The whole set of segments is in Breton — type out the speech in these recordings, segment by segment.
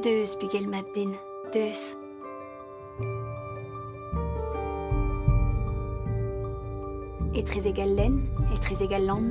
Deus, bugel mab-den, deus. Etrezek al lenn, etrezek al lann,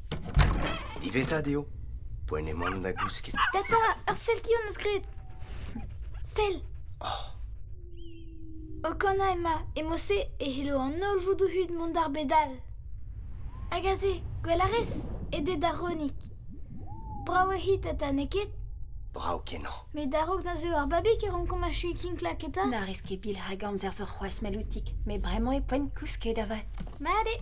Diwezhat eo poent emaomp da gousket. Tata, ar sell qui am eus graet. Sell. O kanañ ema, emo-se e c'hello an holl voudoù-hud mont d'ar bed all. Hag aze, gwell a rez, edet da Ronig. Brav eo hi, tata, n'eo ket? Brav-kenañ. Met a-raok da zeu ar babig e rankomp achuiñ kinklak eta? Na rez ket bil hag amzer zo c'hoazh, Meloutik, met bremañ e poent kousket avat. Mat eo.